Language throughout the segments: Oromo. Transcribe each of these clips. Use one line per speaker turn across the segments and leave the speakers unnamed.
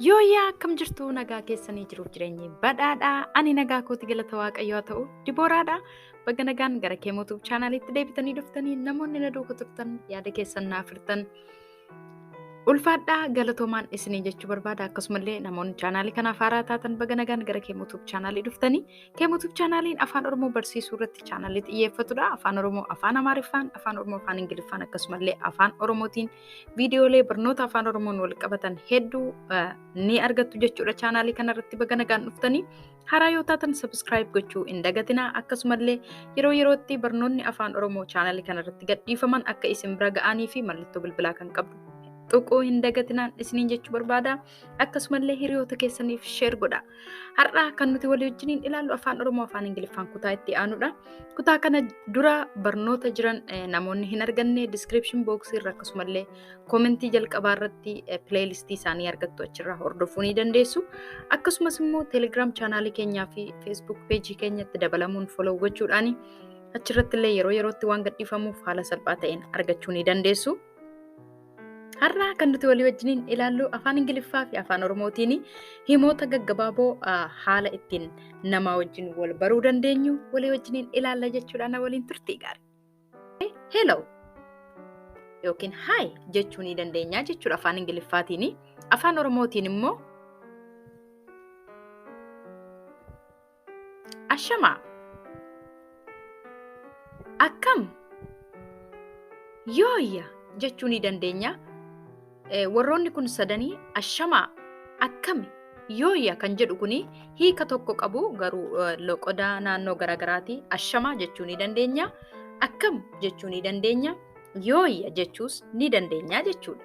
Yooyyaa akkam jirtu nagaa keessanii jiruuf jireenyi badhaadhaa ani nagaa kooti galata waaqayyoo haa ta'u dibooraadha baga nagaan gara kee mootuuf chaanaaliitti deebitanii dhuftanii namoonni na duuka turtan yaada keessan naaf hirtan ulfaadhaa galatoomaan isinii jechuu barbaada akkasumallee namoonni chaanaalii kanaaf haaraa taatan baga nagaan gara kee mootuuf chaanaalii dhuftanii kee mootuuf chaanaaliin afaan oromoo barsiisuu irratti chaanaalii xiyyeeffatudha afaan oromoo afaan amaariffaan afaan oromoo afaan ingiliffaan akkasumallee afaan oromootiin viidiyoolee barnoota afaan oromoon wal qabatan hedduu ni argattu jechuudha chaanaalii kanarratti baga nagaan dhuftanii haraa yoo taatan sabiskiraayib gochuu hin dagatinaa akkasumallee yeroo yerootti barnoonni afaan oromoo chaanaalii kanarratti gadhiifaman akka isin bira ga'anii fi mallattoo bilbilaa kan qabdu tuquu hin dagatinaan isiniin jechuu barbaada. Akkasumallee hiriyoota keessaniif sheer godha. Har'a kan nuti walii wajjiniin ilaallu afaan Oromoo afaan Ingiliffaan kutaa itti aanudha. Kutaa kana dura barnoota jiran eh, namoonni hin arganne description box irra akkasumallee koomentii jalqabaa irratti eh, playlist isaanii argattu achirraa hordofuu ni dandeessu. Akkasumas immoo Telegram chaanaalii keenyaa fi Facebook page keenyatti dabalamuun follow gochuudhaani achirratti illee yeroo yerootti waan gadhiifamuuf haala salphaa ta'een argachuu ni dandeessu. Har'a kan nuti walii wajjiniin ilaallu afaan Ingiliffaa fi afaan Oromootiin himoota gaggabaaboo haala ittiin namaa wajjin wal baruu dandeenyu walii wajjiniin ilaalla jechuudhaan na waliin turtii gaarii. Hello yookiin hi jechuu ni dandeenya jechuudha afaan Ingiliffaatiin. Afaan Oromootiin immoo Ashamaa. Akkam? Yooyya jechuu ni dandeenya. Eh, Warroonni kun sadanii ashamaa akkami yooyya kan jedhu kun hiika tokko qabu garuu eh, loqoda naannoo garaagaraati ashamaa jechuu ni dandeenya. Akkam jechuu ni dandeenya. Yooyya jechuus ni dandeenya jechuudha.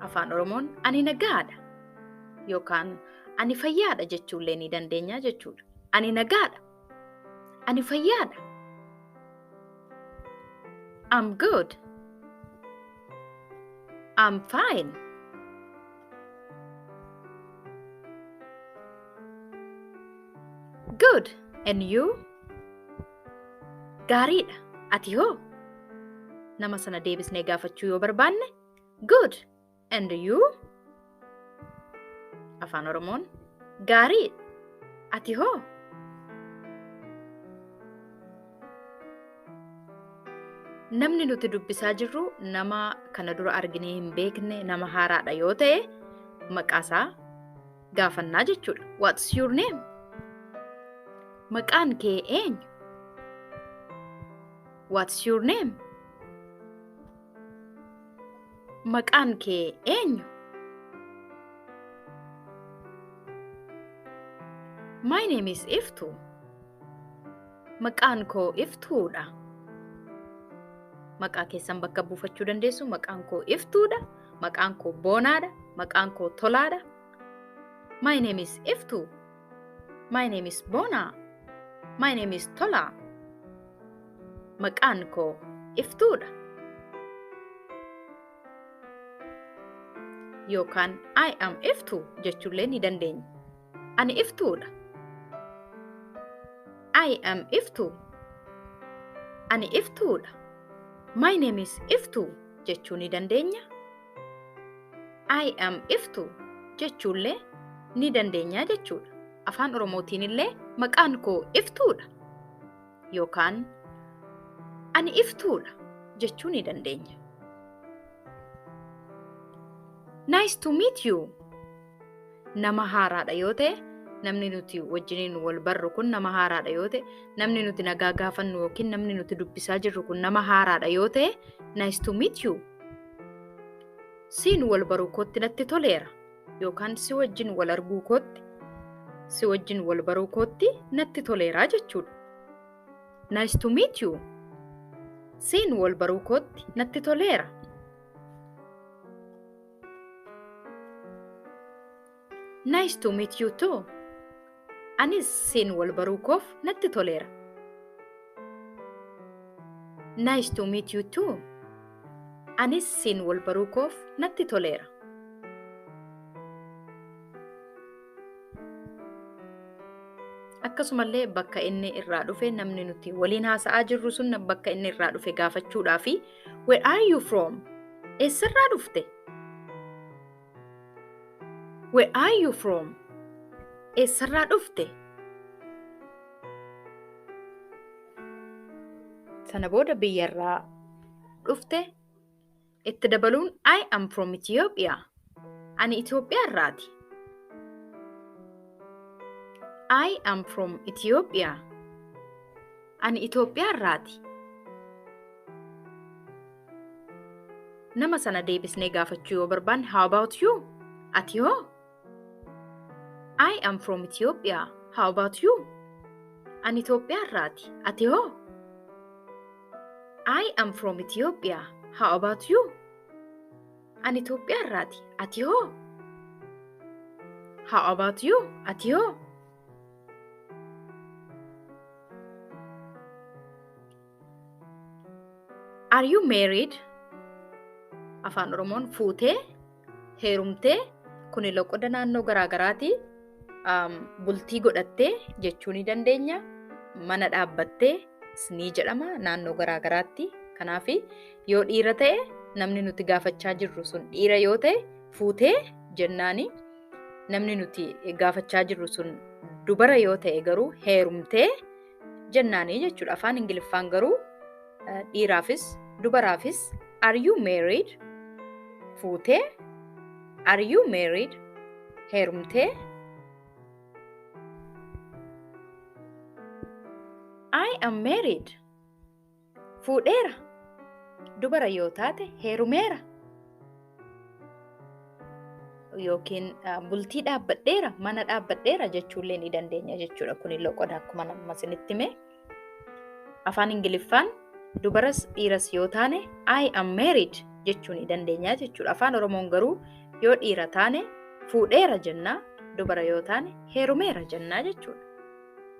Afaan Oromoon ani nagaadha yookaan ani fayyaadha jechuullee ni dandeenya jechuudha. Ani nagaadha. Ani fayyaadha. I'm good. I'm fine. Good. And you? Gaariidha. Ati hoo? Nama sana deebisnee gaafachuu yoo barbaanne, good. And you? Afaan Oromoon gaarii. Ati hoo? Namni nuti dubbisaa jirru nama kana dura arginee hin beekne nama haaraadha yoo ta'e maqaasaa gaafannaa jechuudha. What's your name? Maqaan kee eenyu? What's your name? Maqaan kee eenyu? My name is Iftu. Maqaan koo Iftuudha. Maqaa keessan bakka buufachuu dandeessu. Maqaan koo Iftuudha. Maqaan koo Boonaadha. Maqaan koo Tolaadha. My name is Iftu. My name is Bona. My name is Tola. Maqaan koo Iftuudha. Yookaan I am Iftu jechuullee ni dandeenya. Ani iftuudha. I am iftu. Ani iftuudha. My name is iftu jechuu ni dandeenya. I am iftu jechuullee ni dandeenya jechuudha. Afaan Oromootiin illee maqaan koo iftuudha. Yookaan ani iftuudha jechuu ni dandeenya. Nice to meet you. nama haaraadha yoo ta'e namni nuti wajjiniin wal barru kun nama haaraadha yoo ta'e namni nuti nagaa gaafannu yookiin namni nuti dubbisaa jirru kun nama haaraadha yoo ta'e nice to meet you siin wal baruu kootti natti toleera yookaan si wajjin wal arguu kootti si wajjin wal baruu kootti natti toleeraa jechuudha. Nice to meet you. Siin wal baruu kootti natti toleera. Nice to meet you too. Anis siin wal baruu koof natti toleera. Nice to meet you too. Anis siin wal baruu koof natti toleera. Akkasumallee bakka inni irraa dhufe namni nuti waliin haasa'aa jirru sun bakka inni irraa dhufe gaafachuudhaa fi Where are you from? Eessarraa dhufte? Where are you from? Eessarraa dhufte? Sana booda biyyarraa dhufte itti dabaluun I am from Ethiopia. Ani Itoophiyaa irraati. I am from Ethiopia. Ani Itoophiyaa irraati. Nama sana deebisnee gaafachuu yoo barbaanne how about you? Ati hoo? I am from Ethiopia. How about you? Ani Itoophiyaa irraati. Ati hoo? I am from Ethiopia. How about you? Ani Itoophiyaa irraati. Ati hoo? How about you? Ati hoo? Are you married? Afaan Oromoon fuutee, heerumtee, kuni loqoda naannoo garaagaraati. Um, bultii godhattee jechuu ni dandeenya. Mana dhaabbattee ni jedhama naannoo garaagaraatti. Kanaaf yoo dhiira ta'e namni nuti gaafachaa jirru sun dhiira yoo ta'e fuutee jennaani. namni nuti gaafachaa jirru sun dubara yoo ta'e garuu heerumtee jennaanii jechuudha. Afaan Ingiliffaan garuu dhiiraafis dubaraafis are you married fuutee are you married heerumtee I am married. fuudheera. Dubara yoo taate heerumeera. Yookiin bultii dhaabbadheera, mana dhaabbadheera jechuullee ni dandeenya jechuudha. Kuni loqoda akkuma nama isinitti hime. Afaan Ingiliffaan dubaras dhiiras yoo taane I am married jechuu ni dandeenya jechuudha. Afaan Oromoon garuu yoo dhiira taane fuudheera jennaa, dubara yoo taane heerumeera jennaa jechuudha.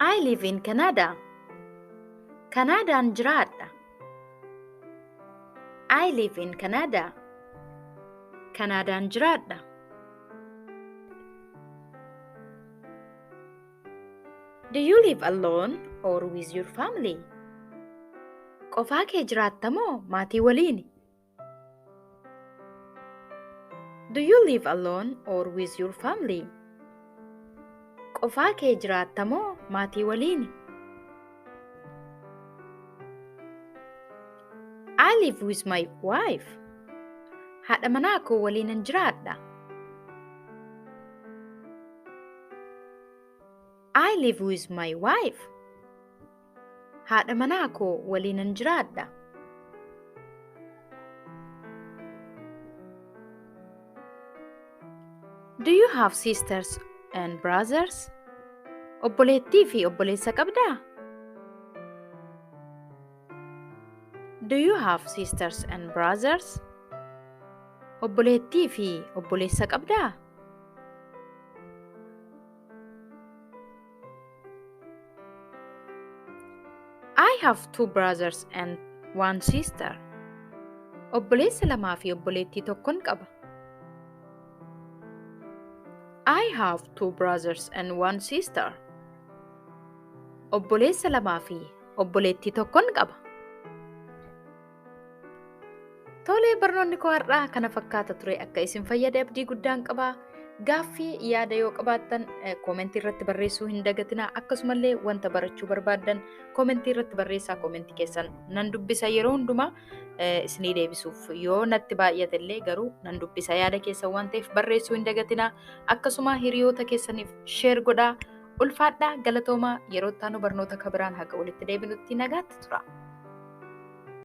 I live in Canada. Kanaadaan jiraadha. I live in Canada. Kanaadaan jiraadha. Do you live alone or with your family? Qofaa kee jiraatta moo maatii waliini? Do you live alone or with your family? Qofaa kee jiraatta moo maatii waliini? I live with my wife. Haadha manaa koo waliinan jiraadha. I live with my wife. Haadha manaa koo waliinan jiraadha. Do you have sisters and brothers? Obboleettii fi obboleessa qabdaa? Do you have sisters and brothers? Obboleettii fi obboleessa qabdaa? I have two brothers and one sister. Obboleessa lamaa fi obboleettii tokkon qaba. I have two brothers and one sister. Obboleessa lamaa fi obboleettii tokkon qaba. Tolee barnoonni koo har'aa kana fakkaata ture akka isin fayyade abdii guddaan qaba. Gaaffii yaada yoo qabaattan koomentii irratti barreessuu hin dagatinaa akkasumallee wanta barachuu barbaaddan koomentii irratti barreessaa koomentii keessan nan dubbisa yeroo hundumaa isinii deebisuuf yoo natti baay'ate illee garuu nan dubbisa yaada keessan waan ta'eef barreessuu hin dagatinaa akkasuma hiriyoota keessaniif sheer godhaa ulfaadhaa galatoomaa yeroo ittaanu barnoota kabiraan haga walitti deebinutti nagaatti tura.